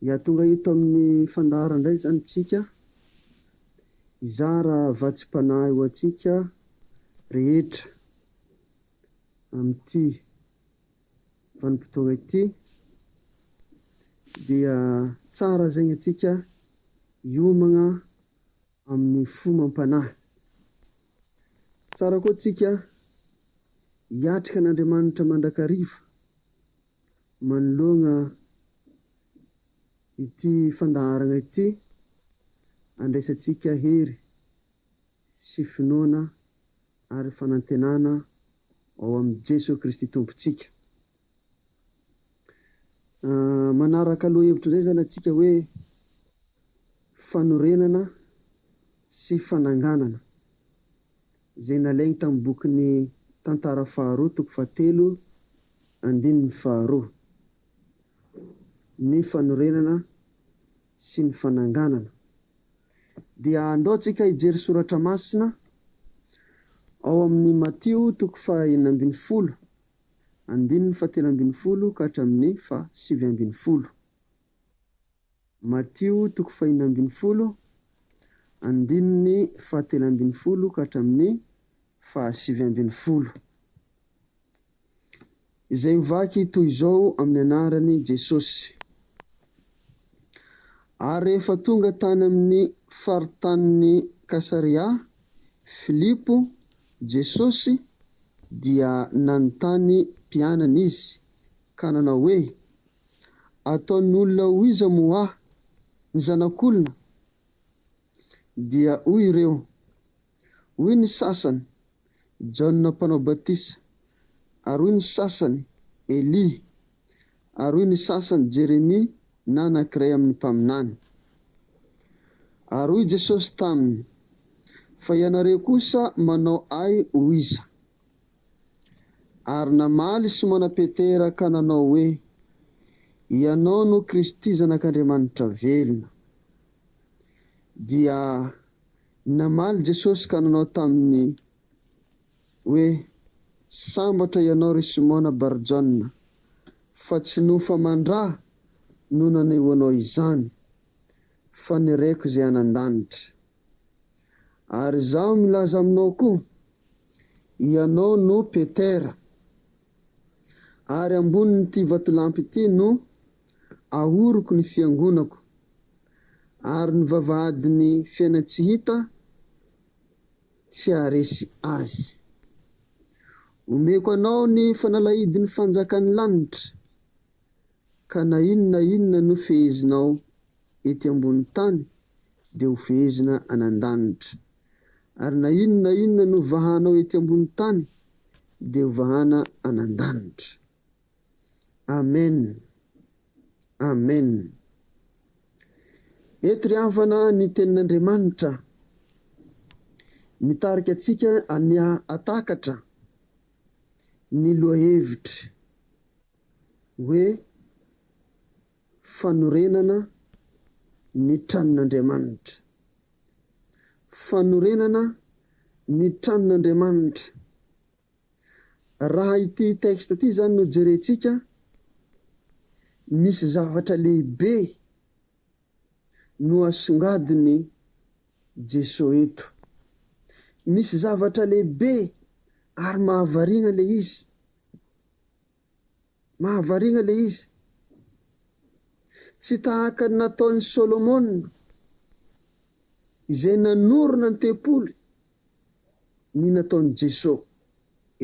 Ya tonga eto amin'ny fandaharana indray izany isika hizara vatsimpanahy ho antsika rehetra amin'ity vanim-potoana ity dia tsara zegny antsika hiomagna amin'ny fo amam-panahy. Tsara koa antsika hiatrika an'Andriamanitra mandrakariva. Manoloana ity fandaharana ity, andraisantsika hery sy finoana ary fanantenana ao amin'i Jesoa Kristy Tompontsika. Manaraka lohahevitro izay izany antsika hoe fanorenana sy fananganana. izay nalainy tamin'ny bokin'ny Tantara faharoa toko fahatelo andininy faharoa, ny fanorenana sy ny fananganana, dia andao tsika hijery soratra masina ao amin'ny Matio toko faha enina ambin'ny folo andininy faha telo ambin'ny folo ka hatramin'ny faha sivy ambin'ny folo. Matio toko fahiny ambin'ny folo, andininy fahatelo ambin'ny folo ka hatramin'ny fahasivy ambin'ny folo, izay mivaky toy izao amin'ny anaran'i Jesosy, Ary rehefa tonga tany amin'ny faritanin'i Kasaria Filipo Jesosy, dia nanontany mpianany izy, ka nanao hoe, Ataon'olona ho iza moa aho? Ny zanak'olona? Dia hoy ireo, Hoy ny sasany, Jaona Mpanao Batisa, ary hoy ny sasany, Elia, ary hoy ny sasany, Jeremia na anankiray amin'ny mpaminany. Ary hoy Jesosy taminy, Fa ianareo kosa manao ahy ho iza? Ary namaly Simona Petera ka nanao hoe, Ianao no Kristy Zanak'Andriamanitra velona. Dia namaly Jesosy ka nanao taminy hoe, Sambatra ianao ry Simona Bar-Jona, fa tsy nofa aman-dra no naneho anao izany, fa ny Reko izay any an-danitra. Ary izaho milaza aminao koa, Ianao no Petera, ary ambonin'ity vatolampy ity no ahoroko ny fiangonako, ary ny vavahadin'ny fiainany tsy hita tsy haharesy azy. Omeko anao ny fanalahidin'ny fanjakan'ny lanitra, ka na inona na inona nofehezinao ety ambony tany dia ho fehezina any an-danitra. Ary na inona na inona novahanao ety ambony tany dia ho vahana any an-danitra. Amen! Amen! Eto ry havana ny Tenin'Andriamanitra mitarika antsika any hahatakatra ny lohahevitry hoe. Fanorenana ny tranon'Andriamanitra. Fanorenana ny tranon'Andriamanitra. Raha ity texte ity izany no jerentsika, misy zavatra lehibe no asongadin'i Jeso eto. Misy zavatra lehibe ary mahavariana ilay izy. Mahavariagna ilay izy. Tsy tahaka ny nataon'i Solomona, izay nanorina ny tempoly, ny nataon'i Jeso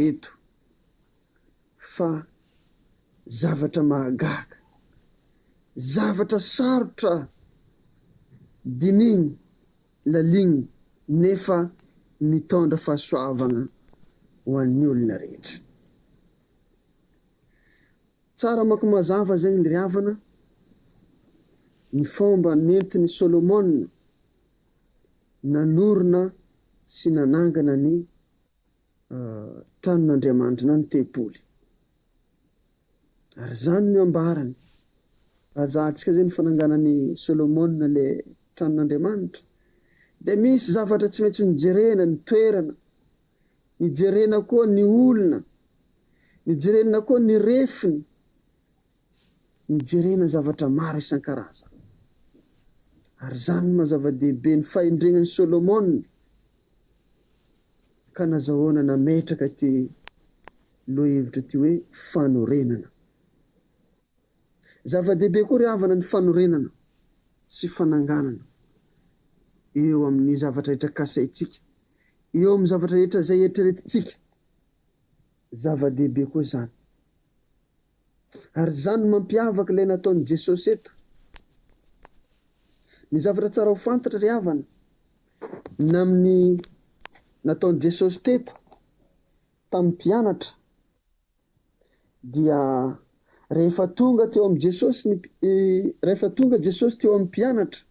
eto, fa zavatra mahagaga, zavatra sarotra dinihina, lalina, nefa mitondra fahasoavagna ho an'ny olona rehetra. Tsara manko mazava zay ndry havana ny fomba nentin'i Solomona nanorina sy nanangana ny tranon'Andriamanitra na ny tempoly. Ary zany no ambarany raha ajantsika zay ny fananganan'i Solomona le tranon'Andriamanitra de misy zavatra tsy maintsy nojerena ny toerana, Nijerena koa ny olona. Nijerenna koa ny refiny. Nijerena zavatra maro isan-karazany. Ary izany no maha-zava-dehibe ny fahendrenan'i Solomona, ka nazahoana nametraka ity lohahevitra ity hoe, Fanorenana. Zava-dehibe koa ry havana ny fanorenana sy fananganana eo amin'ny zavatra rehetra kasaintsika, eo amin'ny zavatra rehetra izay eritreretintsika. Zava-dehibe koa izany. Ary izany no mampiavaka ilay nataon'i Jesosy eto. Ny zavatra tsara ho fantatra ry havana, ny amin'ny nataon'i Jesosy teto tamin'ny mpianatra, Dia rehefa tonga teo amin'i Jesosy ny, rehefa tonga Jesosy teo amin'ny mpianatra,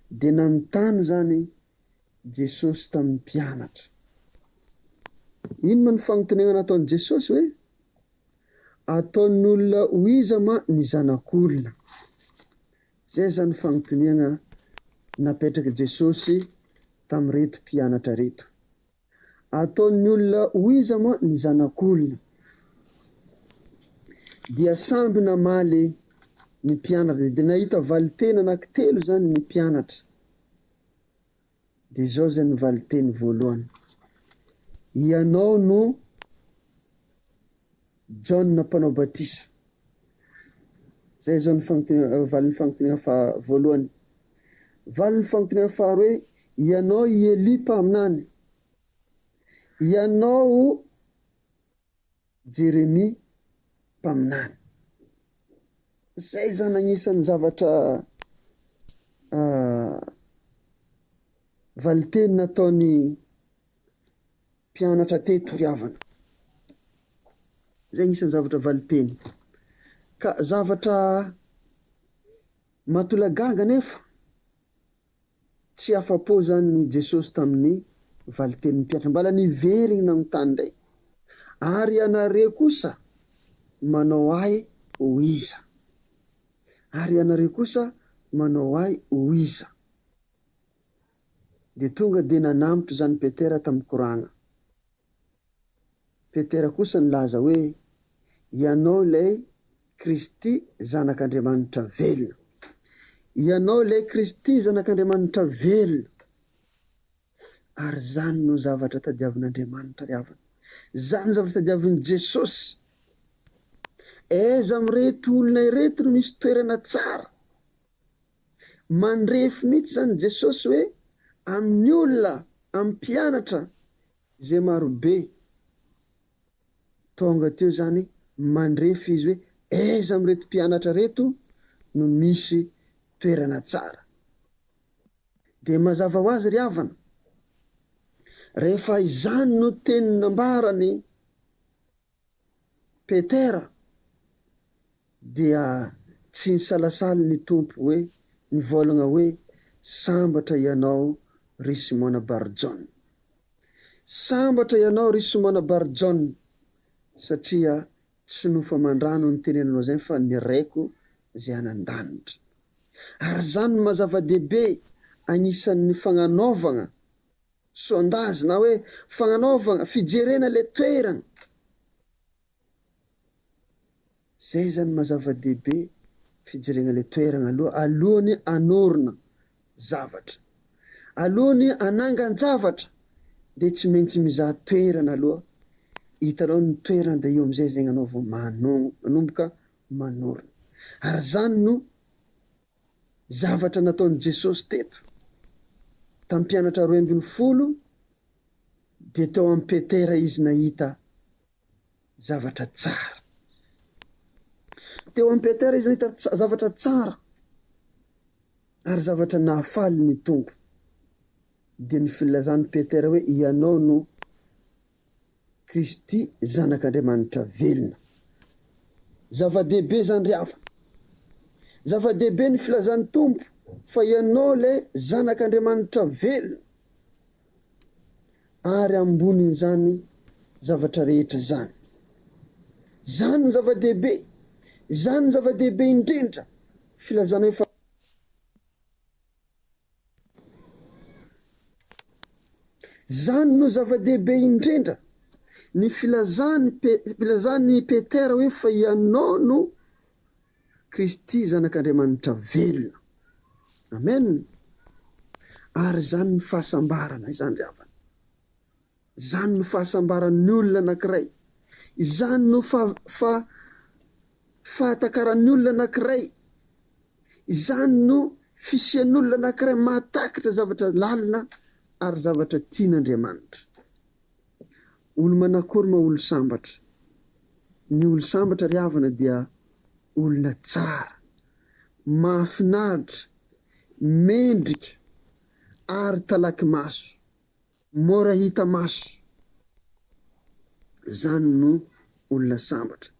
dia nanontany izany Jesosy tamin'ny mpianatra. Inona ny fanontaniana nataon'i Jesosy hoe, Ataon'olona ho iza ma ny Zanak'olona? Izay izany fanontaniana napetrak'i Jesosy tamin'ireto mpianatra ireto. Ataon'ny olona ho iza moa ny zanak'olona? Dia samby namaly ny mpianatra, dia nahita valinteny anankitelo izany ny mpianatra. Dia izao izay ny valinteny voalohany, Ianao no. Jaona Mpanao Batisa. Izay izao ny fanontaniana, valin'ny fanontaniana faha voalohany. Valin'ny fanontaniana faharoa hoe, Ianao i Elia mpaminany? Ianao Jeremia mpaminany? Izay izao ny anisan'ny zavatra valin-teny nataon'i Mpianatra te hitoriavana. Izay anisan'ny zavatra valinteny. Ka zavatra mahatolagaga anefa, tsy afa-po izany i Jesosy tamin'ny valin-tenin'ny mpianatra. Mbola niveriny nanontany indray, Ary ianareo kosa manao ahy ho iza? Ary ianareo kosa manao ahy ho iza? Dia tonga dia nanambotra izany Petera tamin'ny koragna. Petera kosa nilaza hoe, Ianao ilay Kristy Zanak'Andriamanitra velona. Ianao ilay Kristy Zanak'Andriamanitra velona. Ary izany no zavatra tadiavin'Andriamanitra ry havana. Izany no zavatra tadiavin'i Jesosy. Aiza amin'ireto olona ireto no misy toerana tsara? Mandrefy mihitsy izany Jesosy hoe amin'ny olona, amin'ny mpianatra izay marobe. Tonga teo izany mandrefy Izy hoe aiza amin'ireto mpianatra ireto no misy toerana tsara. Dia mazava ho azy ry havana, rehefa izany no teny nambarany Petera dia tsy nisalasala ny Tompo hoe nivôlagna hoe, Sambatra ianao ry Simôna Bar-Jôna. Sambatra ianao ry Simôna Bar-Jôna, satria tsy nofo aman-drano no nitenenanao izany fa ny Raiko izay any an-danitra. Ary izany no maha zava-dehibe agnisan'ny fagnanaovagna. Sondage na hoe fagnanaovagna fijerena le toeragna. Zay zany maha zava-dehibe fijerena le toeragna aloha alohan'ny hanorina zavatra. Alohan'ny hanangan-javatra de tsy maintsy mizaha toerana aloha, hitanao ny toerana de eo am'zay zegny anao vao mano- manomboka manorina. Ary zany no. Zavatra nataon'i Jesosy teto tamin'ny mpianatra roe ambin'ny folo dia teo amin'i Petera Izy nahita zavatra tsara. Teo amin'i Petera Izy nahita zavatra tsara ary zavatra nahafaly ny Tompo. Dia ny filazan'i Petera hoe ianao no Kristy Zanak'Andriamanitra velona. Zava-dehibe izany ry havana. Zava-dehibe ny filazan'ny Tompo fa ianao ilay Zanak'Andriamanitra velona. Ary ambonin'izany zavatra rehetra izany. Izany no zava-dehibe. Izany no zava-dehibe indrindra, filazanay fa. Izany no zava-dehibe indrindra. Ny filazan'i filazan'i Petera hoe fa ianao no Kristy Zanak'Andriamanitra velona. Amen. Ary izany ny fahasambarana izany ry havana. Izany no fahasambaran'ny olona anankiray. Izany no fa, fa, fahatakaran'ny olona anankiray. Izany no fisian'olona anankiray mahatakitra zavatra lalina ary zavatra tian'Andriamanitra. Olo-manakory ma olo-sambatra? Ny olo-sambatra, ry havana, dia olona tsara, mahafinaritra, mendrika ary talaky maso. Mora hita maso zany no olona sambatra.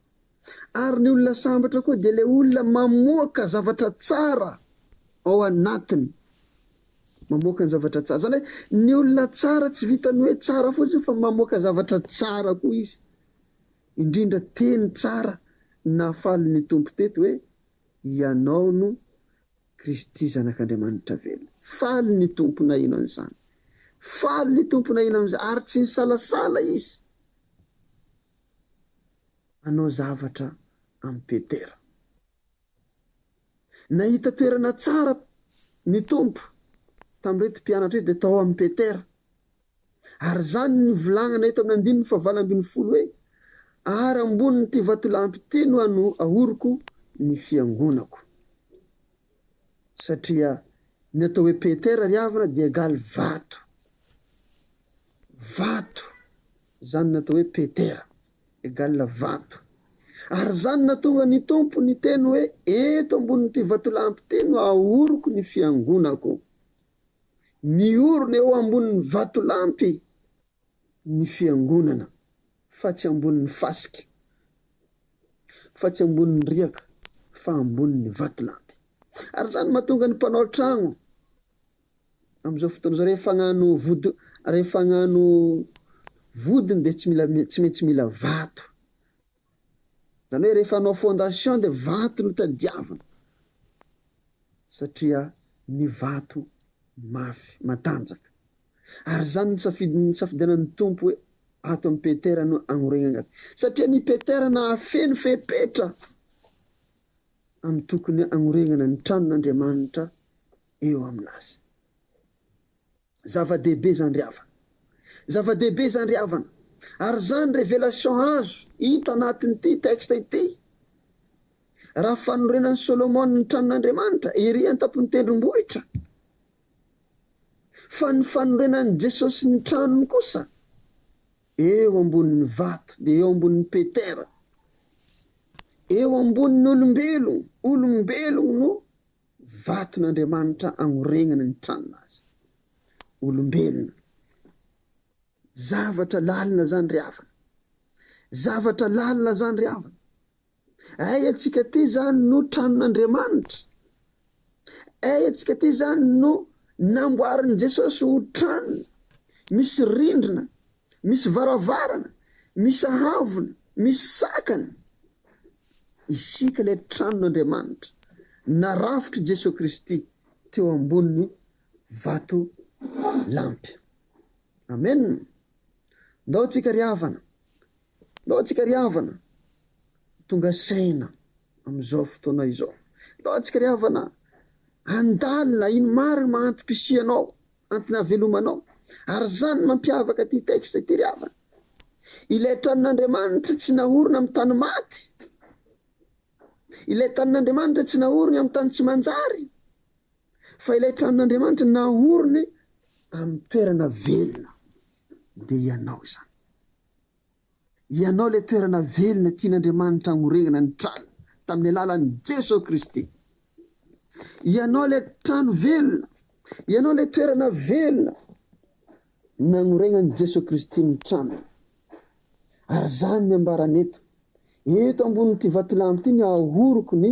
Ary ny olona sambatra koa dia le olona mamoaka zavatra tsara ao anatiny. Mamoaka ny zavatra tsara. Zany hoe ny olona tsara tsy vitan'ny hoe tsara fotsiny fa mamoaka zavatra tsara koa izy. Indrindra teny tsara nahafaly ny Tompo teto hoe ianao no Kristy Zanak'Andriamanitra velona. Faly ny Tompo naheno an'izany. Faly ny Tompo naheno an'izany ary tsy nisalasala Izy hanao zavatra amin'i Petera. Nahita toerana tsara ny Tompo tamin'ireto mpianatra ireto dia tao amin'i Petera Ary izany no volagnana eto amin'ny andininy fahavalo ambin'ny folo hoe, Ary ambonin'ity vatolampy ity no ahoroko ny fiangonako. Satria ny atao hoe Petera ry havana dia egaly vato. Vato izany natao hoe Petera, egal vato. Ary izany natonga ny Tompo niteny hoe, Eto ambonin'ity vatolampy ity no ahoroko ny fiangonako. Miorina eo ambonin'ny vatolampy ny Fiangonana fa tsy ambonin'ny fasika, fa tsy ambonin'ny riaka fa ambonin'ny vatolampy. Ary izany mahatonga ny mpanao tragno amin'izao fotoana izao rehefa hagnano vodi- rehefa hagnano vodiny dia tsy mila tsy maintsy mila vato. Zany hoe rehefa hanao fondation dia vato no tadiavina satria ny vato mafy, matanjaka. Ary izany no safidy nisafidianan'ny Tompo hoe ato amin'i Petera no hanorenana azy. Satria ny Petera nahafeno fepetra amin'ny tokony hanorenana ny tranon'Andriamanitra eo amin'azy. Zava-dehibe izany ry havana. Zava-dehibe izany ry havana. Ary izany révélation azo hita anatin'ity texte ity. Raha fanorenan'i Solomona ny tranon'Andriamanitra ery an-tampon'ny tendrombohitra, fa ny fanorenan'i Jesosy ny tranony kosa eo ambonin'ny vato, dia eo ambonin'i Petera, eo ambonin'ny olombelogno, olombelogno no vaton'Andriamanitra agnoregnana ny tranon'azy. Olombelona. Zavatra lalina zany ry havana. Zavatra lalina zany ry havana. Ay antsika ty zany no tranon'Andriamanitra. Ay antsika ty zany no namboarin'i Jesosy ho tranony. Misy rindrina, Misy varavarana, misy haavona, misy sakana. Isika ilay tranon'Andriamanitra narafitr'i Jesoa Kristy teo ambonin'ny vatolampy. Amen! Ndao tsika ry havana, ndao tsika ry havana tonga saina amin'izao fotoana izao. Ndao tsika ry havana handalina iny marina mahanti-pisianao Antony havelomanao. Ary izany no mampiavaka ity texte ity ry havana. Ilay tranon'Andriamanitra tsy naorina amin'ny tany maty. Ilay tanin'Andriamanitra tsy naoriny amin'ny tany tsy manjary. Fa ilay tranon'Andriamanitra naoriny amin'ny toerana velona. Dia ianao izany. Ianao ilay toerana velona tian'Andriamanitra hamorenana ny trano tamin'ny alalan'i Jesoa Kristy. Ianao ilay trano velona, ianao ilay toerana velona nagnorenan'i Jesoa Kristy ny tranony. Ary zany ny ambarany eto, eto ambonin'ity vatolampy ity ny ahoroko ny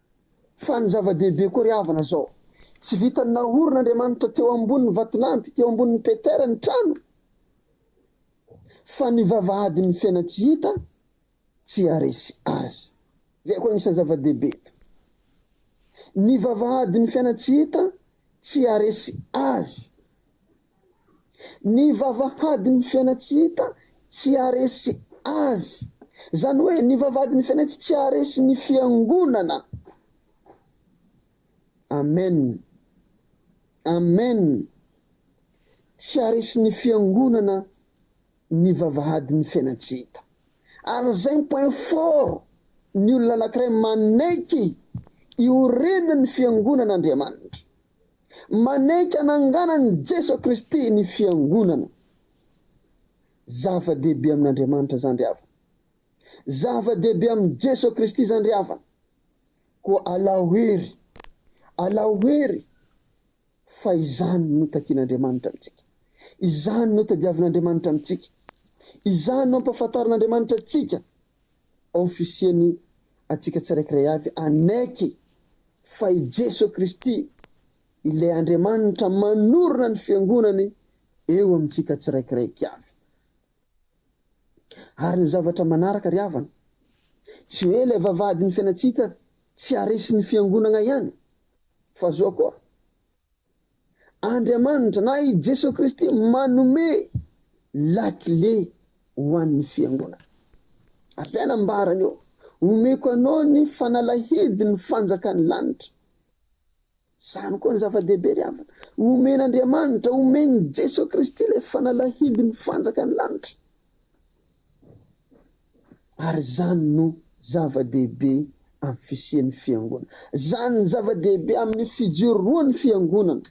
Fa ny zava-dehibe koa ry havana zao, tsy vitan'ny nahoron' Andriamanitra teo ambonin'ny vatolampy, teo ambonin'i Petera ny trano, fa ny vavahadin'ny fena tsy hita tsy haharesy azy. Zay koa agnisan'ny zava-dehibe eto. Ny vavahadin'ny fena tsy hita tsy haharesy azy. Ny vavahadin'ny fiainantsy hita tsy haharesy azy. Izany hoe ny vavahadin'ny fiainantsy tsy haharesy ny fiangonana. Amen. Amen. Tsy haharesy ny fiangonana ny vavahadin'ny fiainantsy hita. Ary izay ny point fort ny olona anankiray manaiky iorenan'ny fiangonan'Andriamanitra. Manaiky hananganan'i Jeso Kristy ny Fiangonana. Zava-dehibe amin'Andriamanitra izany ry havana. Zava-dehibe amin'i Jeso Kristy izany ry havana. Koa alao hery, alao hery fa izany no takian'Andriamanitra amintsika. Izany no tadiavin'Andriamanitra amintsika. Izany no ampahafantarin'Andriamanitra antsika. Officier ny antsika tsiraikiray avy hanaiky fa i Jeso Kristy ilay Andriamanitra manorina ny fiangonany eo amintsika tsiraikiray avy. Ary ny zavatra manaraka ry havana, tsy hoe ilay vavahadin'ny fiainantsika tsy haresin'ny fiangonagna ihany fa zoa koa Andriamanitra na i Jesoa Kristy manome lakile ho an'ny Fiangonana. Ary izay nambarany eo, Omeko anao ny fanalahidin'ny fanjakan'ny lanitra. Izany koa no zava-dehibe ry havana. Omen'Andriamanitra, omen'i Jesoa Kristy ilay fanalahidin'ny fanjakan'ny lanitra. Ary izany no zava-dehibe amin'ny fisian'ny Fiangonana. Izany no zava-dehibe amin'ny fijoroan'ny Fiangonana,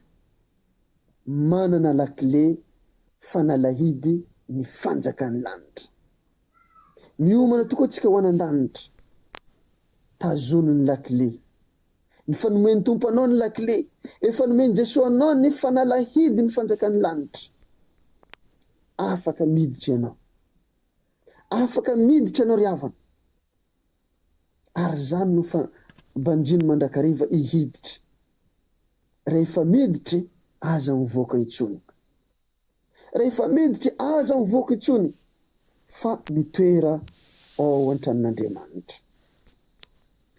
manana lakile fanalahidy ny fanjakan'ny lanitra. Miomana tokoa isika ho any an-danitra, tazonin'ny lakile. Ny fanomen'ny Tompo anao ny lakile. Efa nomen'i Jesoa anao ny fanalahidin'ny fanjakan'ny lanitra. Afaka miditra ianao. Afaka miditra ianao ry havana. Ary izany no fa banjino mandrakariva hihiditra. Rehefa miditra e, aza mivoaka intsony. Rehefa miditra aza ho voako intsony fa mitoera ao an-tranon'Andriamanitra.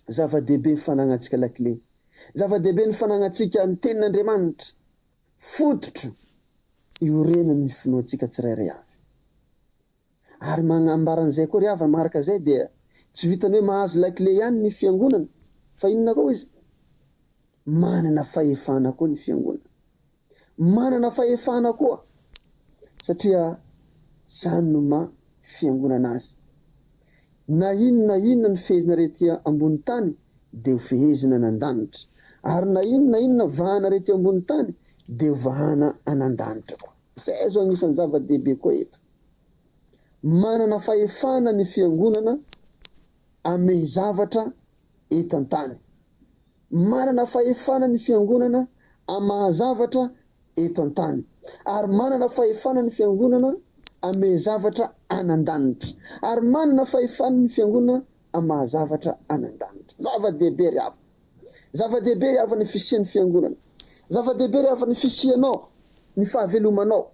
Zava-dehibe ny fananantsika lakile. Zava-dehibe ny fananantsika ny Tenin'Andriamanitra, fototro iorenan'ny finoantsika tsirairay avy. Ary manambara an'izay koa ry havana, manaraka izay dia tsy vitan'ny hoe mahazo lakile ihany ny Fiangonana fa inona koa izy? Manana fahefana koa ny Fiangonana. manana fahefana koa satria zany no maha fiangonana azy. Na inona na inona no fehezinareo ety ambony tany dia ho fehezina any an-danitra ary na inona na inona vahanareo ety ambony tany dia ho vahana any an-danitra koa. Zay zao agnisan'ny zava-dehibe koa eto. Manana fahefana ny fiangonana amey zavatra eto an-tany. Manana fahefana ny Fiangonana amin'ny maha-zavatra eto an-tany, ary manana fahefana ny Fiangonana hamehy zavatra any an-danitra, ary manana fahefana ny Fiangonana amin'ny maha-zavatra any an-danitra. Zava-dehibe ry havana! Zava-dehibe ry havana ny fisian'ny Fiangonana. Zava-dehibe ry havana ny fisianao, ny fahavelomanao,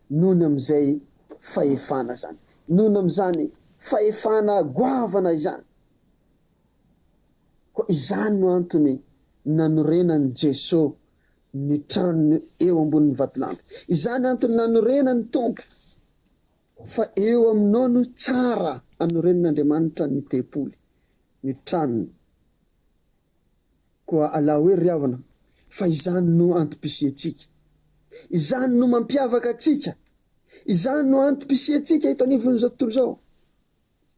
nohony amin'izay fahefana izany, nohony amin'izany fahefana goavana izany. Koa izany no antony nanorenan'i Jeso ny tranony eo ambonin'ny vatolampy. Izany antony nanorenan'ny Tompo fa eo aminao no tsara anorenan'Andriamanitra ny tempoly, ny tranony. Koa alao hoe ry havana fa izany no antom-pisiantsika. Izany no mampiavaka antsika. Izany no antom-pisiantsika eto anivon'izao tontolo izao.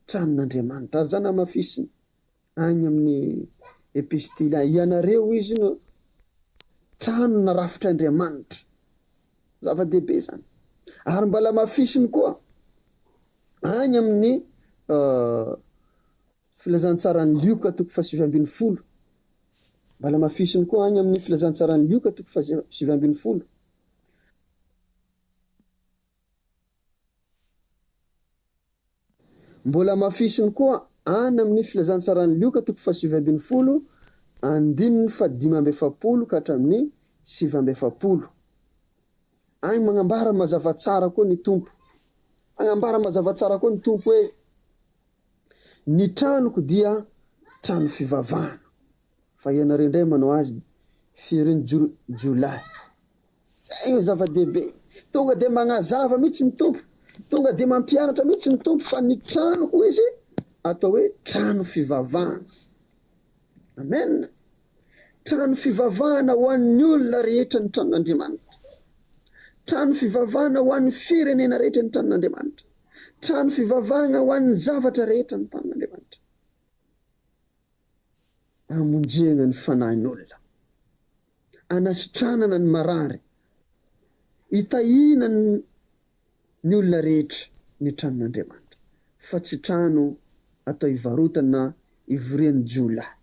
Tranon'Andriamanitra. Ary izany hamafisina agny amin'ny epistily agny. Ianareo, izy no trano narafitr'Andriamanitra. Zava-dehibe izany. Ary mbala hamafisiny koa agny amin'ny Filazantsaran'i Lioka toko fahasivy ambin'ny folo. Mbala hamafisiny koa agny amin'ny Filazantsaran'i Lioka toko fahasivy ambin'ny folo. Mbola hamafisiny koa any amin'ny Filazantsaran'i Lioka toko fahasivy ambin'ny folo, andininy fahadimy amby efapolo ka hatramin'ny sivy amby efapolo. Any magnambara mazava tsara koa ny Tompo. Hagnambara mazava tsara koa ny Tompo hoe, Ny tranoko dia trano fivavahana. Fa ianareo indray manao azy firin'ny jiolahy. Izay no zava-dehibe. Tonga dia magnazava mihitsy ny Tompo, tonga dia mampianatra mihitsy ny Tompo fa ny trano hoy Izy atao hoe trano fivavahana. Amen. Trano fivavahana ho an'ny olona rehetra ny tranon'Andriamanitra. Trano fivavahana ho an'ny firenena rehetra ny tranon'Andriamanitra. Trano fivavahana ho an'ny zavatra rehetra ny tranon'Andriamanitra. Amonjegna ny fanahin'olona. anasitranana ny marary, hitahiana ny olona rehetra ny tranon'Andriamanitra, fa tsy trano atao hivarotana na hivorian'ny jiolahy.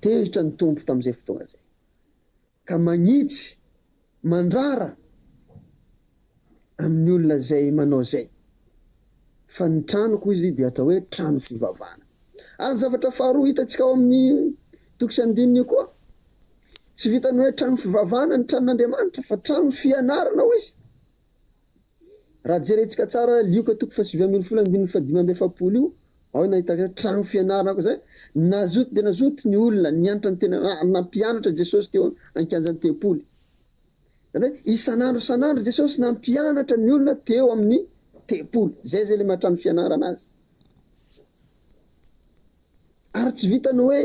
Tezitra ny Tompo tamin'izay fotoana izay, ka manitsy Mandrara amin'ny olona izay manao izay. Fa ny tranoko, hoy izy, dia atao hoe trano fivavahana. Ary ny zavatra faharoa hitantsika ao amin'ny toko sy andininy io koa, Tsy vitan'ny hoe trano fivavahana ny tranon'Andriamanitra, fa trano fianarana, hoy izy. Raha jerentsika tsara Lioka toko fahasivy ambin'ny folo andininy fahadimy amby efapolo io, ao no nahitaka hoe trano fianarana aoka izay. Nazoto dia nazoto ny olona nianatra ny tena raha nampianatra Jesosy teo an-kianjan'ny tempoly. Izany hoe isan'andro isan'andro Jesosy nampianatra ny olona teo amin'ny tempoly. Izay izay ilay maha-trano fianarana azy. Ary tsy vitan'ny hoe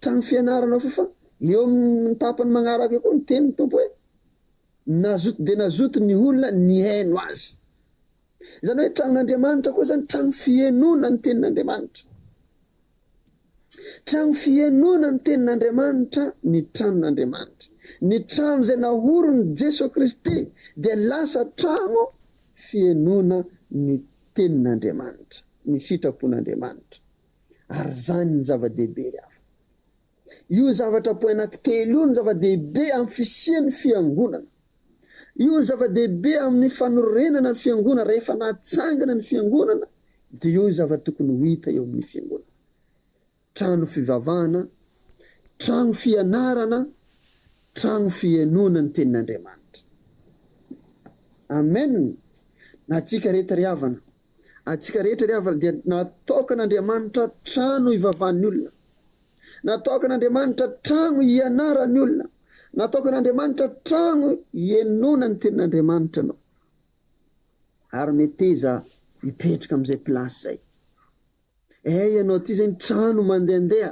trano fianarana foa fa eo amin'ny tapany magnaraka eo koa ny tenin'ny Tompo hoe. Nazoto dia nazoto ny olona nihaino azy. Izany hoe tranon'Andriamanitra koa izany trano fihenoana ny tenin'Andriamanitra. Trano fihenoana ny tenin'Andriamanitra ny tranon'Andriamanitra. Ny trano izay naorin'i Jeso Kristy dia lasa trano fihenoana ny tenin'Andriamanitra, ny sitrapon'Andriamanitra. Ary izany ny zava-dehibe ry havana. Io zavatra po anankitelo io no zava-dehibe amin'ny fisian'ny Fiangonana. Io no zava-dehibe amin'ny fanorenana ny Fiangonana. Rehefa natsangana ny Fiangonana, dia io ny zava-tokony ho hita eo amin'ny Fiangonana. Trano fivavahana, trano fianarana, trano fihenoana ny Tenin'Andriamanitra. Amen! Na tsika rehetra ry havana, Antsika rehetra ry havana dia nataokan'Andriamanitra trano hivavahan'ny olona. Nataokan'Andriamanitra trano hianaran'ny olona. Nataokan'Andriamanitra trano hienoana ny tenin'Andriamanitra ianao. Ary meteza hipetraka amin'izay place izay. Eh ianao ity izay ny trano mandehandeha.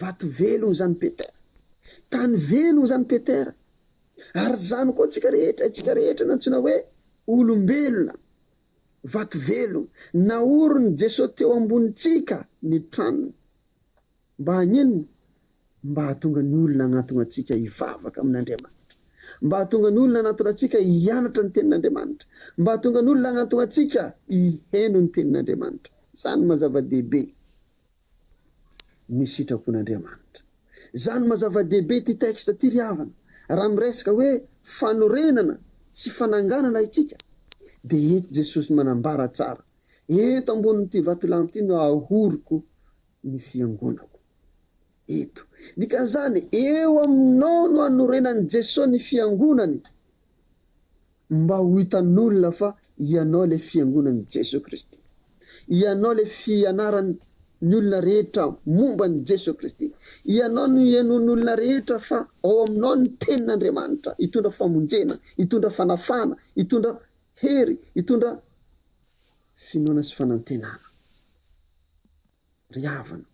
Vato velona izany Peter. Tany velona izany Peter. Ary izany koa antsika rehetra, isika rehetra nantsoina hoe olombelona, vato velona. Naorin'i Jesoa teo ambonintsika ny tranony. Mba hagnino? Mba hahatonga ny olona hagnatona antsika hivavaka amin'Andriamanitra. Mba hahatonga ny olona hanatona antsika hianatra ny Tenin'Andriamanitra. Mba hahatonga ny olona hagnatona antsika hiheno ny Tenin'Andriamanitra. Izany no maha zava-dehibe. ny sitrapon'Andriamanitra. Izany maha zava-dehibe ity texte ity ry havana, raha miresaka hoe fanorenana sy fananganana itsika dia eto Jesosy manambara tsara, eto ambonin'ity vatolampy ity no ahoriko ny fiangonako. Eto. Dikan'izany, eo aminao no anorenan'i Jesosy ny fiangonany. Mba ho hitan'olona fa ianao ilay fiangonan'i Jesoa Kristy. Ianao ilay fianaran'ny olona rehetra momba an'i Jesoa Kristy. Ianao no henoin'ny olona rehetra fa ao aminao ny Tenin'Andriamanitra hitondra famonjena, hitondra fanafahana, hitondra hery, hitondra finoana sy fanantenana. Ry havana,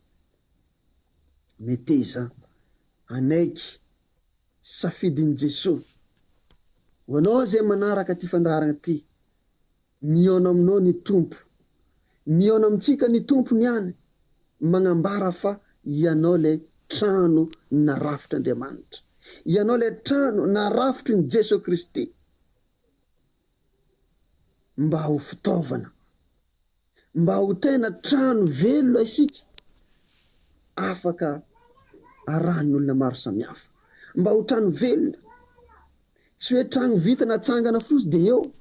meteza hanaiky. Safidin'i Jesoa ho anao izay manaraka ity fandaharana ity, mihaona aminao ny Tompo. Mihaona amintsika ny Tompo niany, magnambara fa ianao ilay trano narafitr'Andriamanitra. Ianao ilay trano narafitry ny Jesoa Kristy mba ho fitaovana mba ho tena trano velona isika afaka arahan'ny olona maro samihafa. Mba ho trano velona. Tsy hoe trano vita natsangana fosy dia eo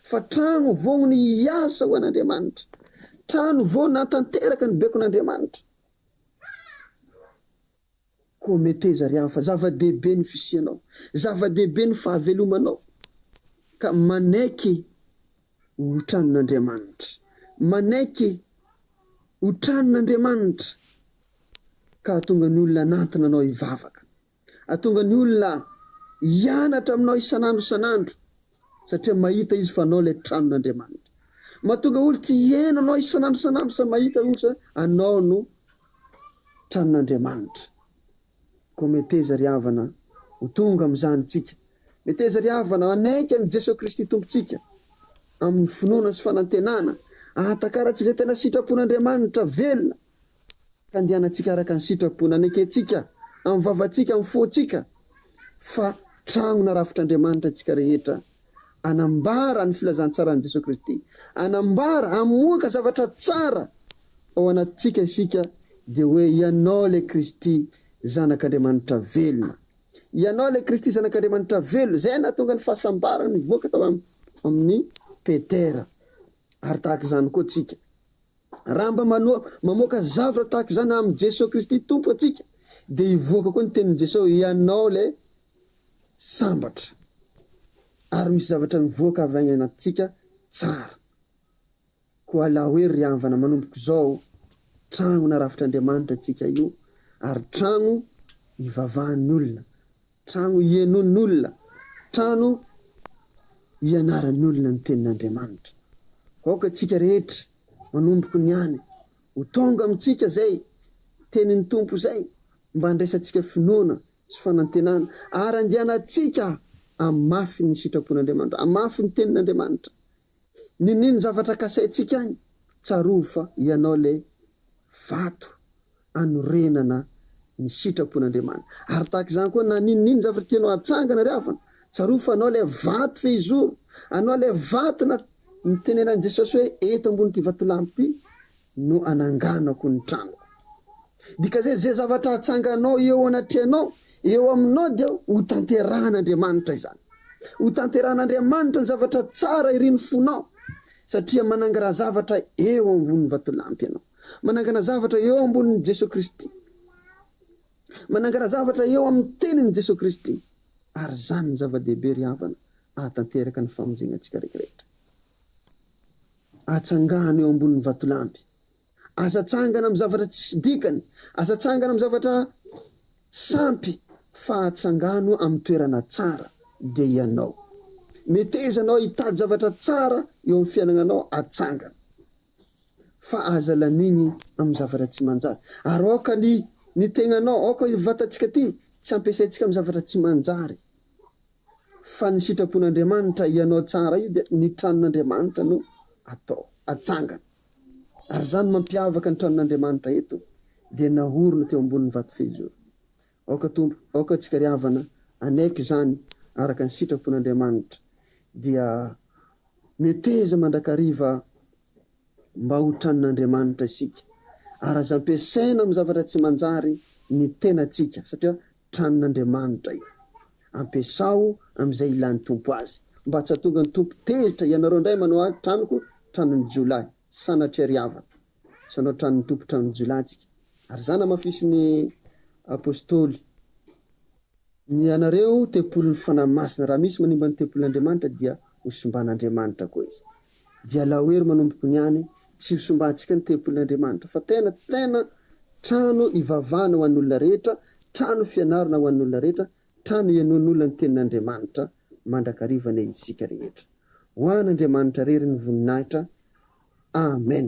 fa trano vognony hiasa ho an'Andriamanitra. Trano vao nantanteraka ny bekon'Andriamanitra. Koa meteza ry hafa, zava-dehibe ny fisianao, zava-dehibe ny fahavelomanao, ka manaiky ho tranin'Andriamanitra, manaiky ho tranin'Andriamanitra, ka hahatonga ny olona hanantona anao hivavaka, hahatonga ny olona hianatra aminao isan'andro isan'andro. satria mahita izy fa anao ilay tranon'Andriamanitra. Mahatonga olo tia hihaino anao isan'andro isan'andro sa mahita olo sa anao no tranon'Andriamanitra. Koa meteza ry havana ho tonga amin'izany tsika. Meteza ry havana hanaiky an'i Jesoa Kristy Tompontsika amin'ny finoana sy fanantenana, ahatakarantsika izay tena sitrapon'Andriamanitra velona. Ka andehanantsika araka ny sitrapo nanekentsika amin'ny vavantsika, amin'ny fontsika, fa trano narafitr'Andriamanitra antsika rehetra, hanambara ny filazantsaran'i Jesoa Kristy, hanambara, hamoaka zavatra tsara ao anatintsika isika, dia hoe, Ianao ilay Kristy, Zanak'Andriamanitra velona. Ianao ilay Kristy, Zanak'Andriamanitra velona. Izay no nahatonga ny fahasambarana nivoaka tao amin'ny Petera. Ary tahaka izany koa tsika. Raha mba mamoaka zavatra tahaka izany amin'i Jesoa Kristy Tompo antsika dia hivoaka koa ny tenin'i Jesoa hoe ianao ilay sambatra. Ary misy zavatra mivoaka avy any anatintsika tsara. Koa alao hoe ry havana manomboka izao tragno narafitr'Andriamanitra antsika io ary tragno ivavahan'ny olona. Trano hienoin'olona, trano hianaran'olona ny tenin'Andriamanitra. Aoka tsika rehetra, manomboky ny any, ho tonga amintsika zay tenin'ny Tompo zay mba handraisantsika finoana sy fanantenana ary andianantsika hamafy ny sitrapon'Andriamanitra, hamafy ny tenin'Andriamanitra. Niniany zavatra kasaintsika agny, tsarovy fa ianao le vato anorenana ny sitrapon'Andriamanitra. Ary tahaka izany koa na ninoninona zavatra tianao hatsangana ry havana, tsarovy fa anao le vato fehizoro, anao le vato na nitenenan'i Jesosy hoe eto ambony ty vatolampy ty no ananganako ny tranoko. Dika zay ze zavatra atsanganao eo anatrehanao, eo aminao dia ho tanterahan'Andriamanitra izany. Ho tanterahan'Andriamanitra ny zavatra tsara irin'ny fonao satria manangara zavatra eo ambony vatolampy ianao. Manangana zavatra eo ambonin'i Jesoa Kristy. Manangana zavatra eo amin'ny tenin'i Jesoa Kristy. Ary zany ny zava-dehibe ry havana ahatanteraka ny famonjena antsika rehetra. Atsangano eo ambonin'ny vatolampy. Aza atsangana amin'ny zavatra tsisy dikany. Aza atsangana amin'ny zavatra sampy, fa atsangano amin'ny toerana tsara, dia ianao. Meteza anao hitady zavatra tsara eo amin'ny fiainagnanao, atsangana. Fa aza lanigny amin'ny zavatra tsy manjary. Ary aoka ny ny tegnanao, aoka io vatantsika ity, tsy ampiasaintsika amin'ny zavatra tsy manjary. Fa ny sitrapon'Andriamanitra hianao tsara io dia ny tranon'Andriamanitra no atao atsangana. Ary izany mampiavaka ny tranon'Andriamanitra eto dia nahorina teo ambonin'ny vato fehizoro. Aoka Tompo, aoka antsika ry havana hanaiky izany araka ny sitrapon'Andriamanitra dia meteza mandrakariva mba ho tranon'Andriamanitra isika. Ary aza ampiasaina amin'ny zavatra tsy manjary ny tenantsika satria Tranon'Andriamanitra io. Ampiasao amin'izay ilan'ny Tompo azy. Mba tsy hahatonga ny Tompo tezitra ianareo indray manao ahy tranoko tranon'ny jiolahy. Sanatria ry havana. Tsy hanao tranon'ny Tompo tranon'ny jiolahy tsika. Ary izany hamafisin'ny Apostoly. Ny anareo tempolin'ny Fanahy Masina. Raha misy manimba ny tempolin'Andriamanitra dia hosimban'Andriamanitra koa izy. Dia laoery manomboko ny any, tsy ho simbantsika ny tempolin' Andriamanitra, fa tena, tena trano ivavahana ho an' olona rehetra, trano fianarana ho an' olona rehetra, trano ienoan' olona ny tenin' Andriamanitra mandrakariva anie isika rehetra. Ho an' Andriamanitra rery ny voninahitra. Amen.